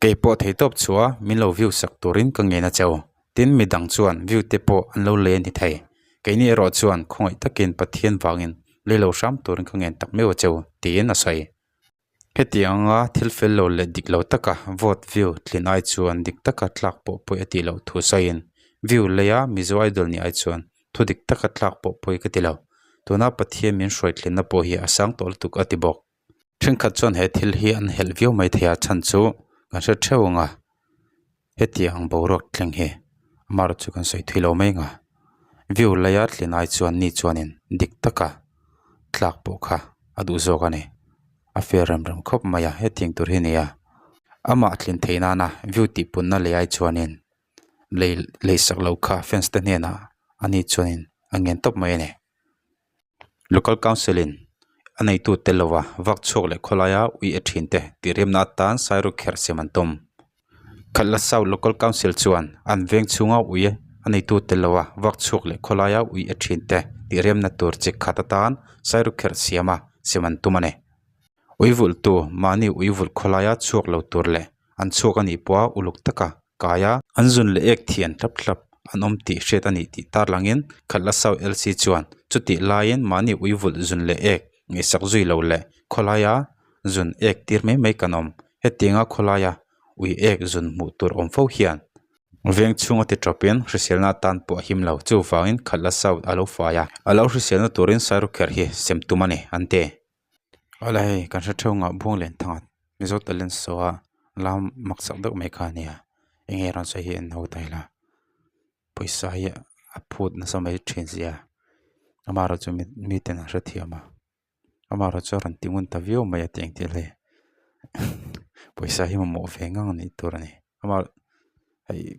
Kei pawh thei tawp chua min lo view sak turin ka ngei na che u. Tin mi dang chuan view te pawh an lo lei a ni thei. Kei nih erawh chuan khawngaih takin Pathian vangin lei lo hram turin ka ngen tak mai u che u tiin a sawi. Hetiang anga thil fel lo leh dik lo taka vote view tlin ai chuan dik taka tlak pawh pawih a tih loh thu sawiin view lei a Mizo Idol ni ai chuan thu dik taka tlak pawh pawih ka ti lo. Tuna Pathian min hruai tlinna pawh hi a sang tawh lutuk a ti bawk. Thenkhat chuan he thil hi an helh viau mai thei a chhan chu kan hre theuh ang a, hetiang boruak thleng hi amarawt chu kan sawi thui lo mai ang a, view laia tlen ai chuan ni chuanin dik taka tlak pawh kha a duh zawk a ni, a fir rem rem khawp mai a hetiang tur hi nia, amah thlin theih nana view tihpunna leh ai chuanin lei lei sak lo kha fans te hnenah ani chuanin a ngen tawp mai a ni. Local Council in a neitu tel lova vak chhuak leh khawlaia ui a thin te tihremna atan sairuk kher siam an tum. Khalhla South Local Council chuan an veng chhunga ui a neitu tel lova vak chhuak leh khawlaia ui a thin te tihremna tur chi khat atan sairuk kher siama siam an tum a ni. Ui vultu mahni ui vulh khawlaia chhuak lo tur leh an chhuak a nih pawha uluk taka kai a, an zun leh ek thian hlap hlap an awm tih hriat a nih tih tarlang in khalh la Sau Elsie chuan chutih laiin mahni uivulh zun leh ek ngaihsak zui lo leh khawlaia zun ek tir mai mai kan awm hetianga khawlaia ui ek zun hmuh tur awm fo hian veng chhunga ti tawpin hriselna atan pawh a him lo chuvangin khalh la Sau a lo fai a, a lo hriselna turin Sairukher hi sem tum a ni an ti. Hola hei kan hre theuh ngah buang len thangah mizo talent saw a lam maksak deuh mai kha nia enge a rawn sawi hi an ho ta ila pawisa hi a phut nasa mai thin zia ama erawh chu mi miten an hre thiam a ama erawh chu a rawn ti ngun ta viau mai a ti ang tel e pawisa hi mamawh ve ngang a nih tur a ni ama hei--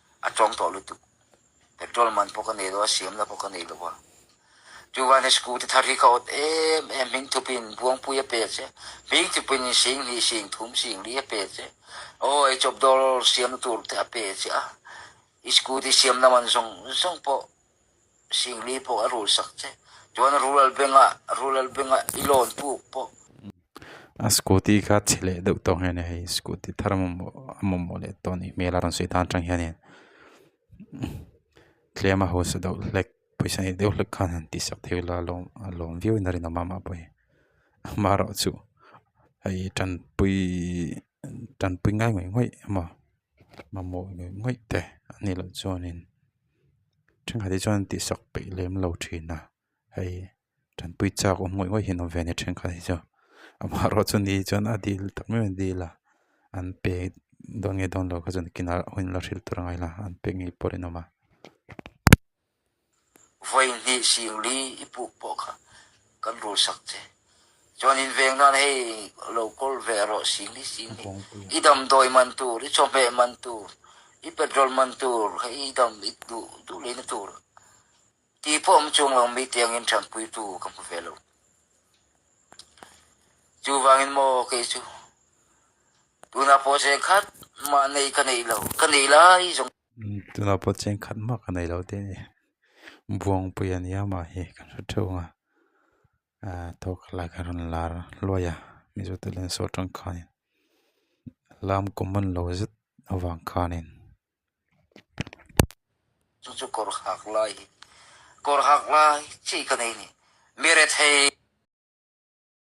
A tawng tawh lutuk. Petrol man pawh ka nei lo a, siam la pawh ka nei lo a. Chu van he scooty thar hi ka awt em em, hming thup in buangpui a pe che, hming thup in insing hnih sing thum sing li a pe che. Aw ei chawp dawl siamna tur te a pe che a. I scooty siam lam an zawng zawng pawh. Singli pawh a rul sak che. Chuan rural bank a, rural bank a i loan puk pawh. A scooty kha chhe leh deuh tawh ang hian hei scooty thar mamawh leh tawh anih hmel a rawn sawi tan tang hianin tlem a haw sa deuh hlek pawisa nei deuh hlek khan han tihsak thei ila a lawm viau in a rinawm a mah pawh hi mah erawh chu hei tanpui tanpui ngai ngawih ngawih emaw. mamawh ngawih ngawih te an nih loh chuanin thenkhat hi chuan an tihsak peih lem lo thin a hei ṭanpui châk awm ngawih ngawih hian an awm ve a ni thenkhat hi chuan amaherawhchu chu ni hi chuan a dil tak mai mai a dil a an pek dawn nge dawn lo kha chu kinah a awm a an pek ngei pawh a rinawm a. vawi hnih sing li i puk pawh kha kan rul sak che. Chuan in veng nan hei lo kawl ve a rawh sing li sing li. I damdawi man tur, i chawhmeh man tur, i petrol man tur, hei i dam i duh duh leh na tur ti pawh awm chung lo mi tiang in thanpui tu ka hmu ve lo. Chu vang in maw kei chu tunah pawh cheng khat mah nei ka nei lo, ka nei lai zawng. Tunah pawh chian khat mak a nei lote a ni. Buangpui a nia mahni kan hre theuh ang a. Ahh thawk a lak a rawn la luai a mizo te leh saw tangkhain lam kum man lo zet avang khanin. Chu chu kawr nghak lai hi kawr nghak lai chi ka nei ni. Mi rethei.